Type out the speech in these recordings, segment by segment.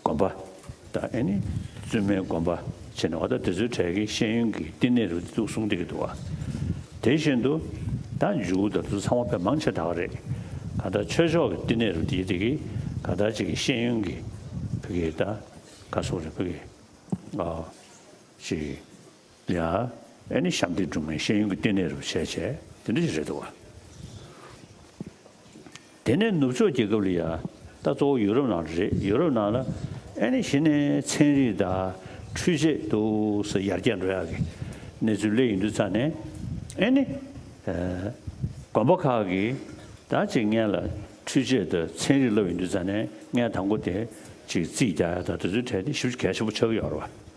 དགོན་པ། དང་ཨེ་ནི། བཙུན་མའི་དགོན་པ། བྱས་ནས་འོ་ད་དེ་ཚོའི་གྲས་ཀྱི་ཤེས་ཡོན་གྱི་བསྟི་གནས་རུ་བཙུགས་སོང་བསྡད་ཀྱི་འདུག་བ། དེ་བཞིན་དུ། ད་འཇུག་གུ་དང་དུ་ཚང་བ་ཕལ་མང་ཆེ་དྲགས་རེད། ག་ལྟར་ཆོས་ཕྱོགས་ཀྱི་བསྟི་གནས་རུ་དེ་དེ་གི་ག་ལྟར་ཅིག་གི་ཤེས་ཡོན་གྱི། བོད་ཀྱི་ད་ག་སོགས་རེད་བོད་ཀྱི། ཅིག། ཡ། ཨེ་ནི་ཞབས་འདེགས་སྒྲུབ་མཁན་ཤེས་ཡོན་གྱི་ལྟེ་གནས་རུ་བྱས་བྱས་དེ་འདྲ་ཞིག་རེད་འདུག་བ། དེ་ནས་ནུབ་ཕྱོགས་རྒྱལ་ཁབ་ལ་ཡ། ད་གཙོ་བོ་ཡུ་རོབ་ནང་དུ་རེད་ཡུ་རོབ་ནང་ལ་ཨེ་ནི་ཞི་ནས་ཚན་རིག་དང་འཕྲུལ་ཆས་འདུག་ས་ཡར་རྒྱས་འགྲོ་ཡག་གི་གནས་ཚུལ་གླེ་ཡིན་དུས་ཚ་ནས་ཨེ་ནི། དགོན་པ་ཁག་གི་ད་ཅིག་ངན་ལ་འཕྲུལ་ཆས་དང་ཚན་རིག་ལབ་ཡིན་དུས་ཚ་ནས་ངན་དང་པོ་དེ་ཅིག་རྩིས་རྒྱག་ཡག་ད་དེ་ཚོའི་གྲས་དེ་ཞིབ་གལ་ཆེན་པོ་ཆགས་ཀྱི་ཡོག་རེད་བ།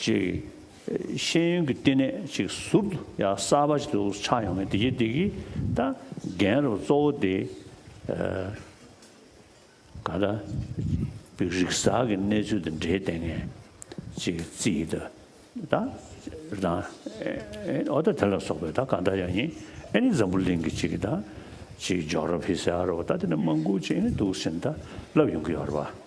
ཅིག། ཤེས་ཡོན་གྱི་བསྟི་གནས་ཅིག་ཟུར་དུ་ཡང་གསར་པ་ཞིག་ཏུ་ཆགས་ཡོང་ངེས་དེ་རྗེས་དེ་གི་ད་རྒན་རབས་གཙོ་བོ་དེ། ག་ད་པིག་རིག་གསར་གྱི་གནས་ཚུལ་དང་འབྲེལ་བསྟན་ངེས་ཅིག་རྩིས་ད་ད་རང་ཨེ་འོ་ད་དེ་ལ་སོགས་པའི་ད་ག་ད་ཡང་ཡིན་ཨེ་ནི་འཛམ་བུ་གླིང་གི་ཅིག་ད་ཅིག་ཇོག་ར་བྷི་སེ་ཨ་རོ་ད་དེ་ནི་མང་པོ་ཅིག་ཨེ་ནི་འདུག་བཞིན་ད་ལབ་ཡོང་གི་ཡོད་རེད་པ།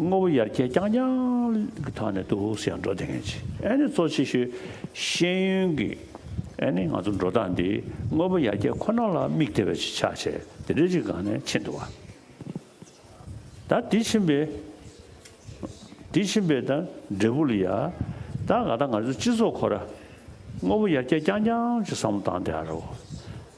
དངོས་པོ་ཡར་རྒྱས་རྐྱང་རྐྱང་གི་ཐོག་ནས་སྟུ་ཧུ་སི་ཡང་འགྲོ་བདེ་ངེས་ཆེ་ཨེ་ནི་གཙོ་ཆེ་ཤོས་ཤེས་ཡོན་གྱི་ཨེ་ནི་ང་ཚོ་འགྲོ་སྟངས་འདི་དངོས་པོ་ཡར་རྒྱས་ཁོ་ན་ལ་དམིགས་ཏེ་བས་ཆེ་ཆ་བྱས་དེ་རེ་རེ་གང་ནས་ཕྱིན་འདུག་བ་ད་དེ་ཕྱིན་པས་དེ་ཕྱིན་པས་ད་འབྲས་བུ་ལ་ཡ་ད་ག་ད་ང་ཚོའི་སྤྱི་ཚོགས་ཁོ་ར་དངོས་པོ་ཡར་རྒྱས་རྐྱང་རྐྱང་གི་བསམ་བློ་བཏང་དེ་ཨ་རོ།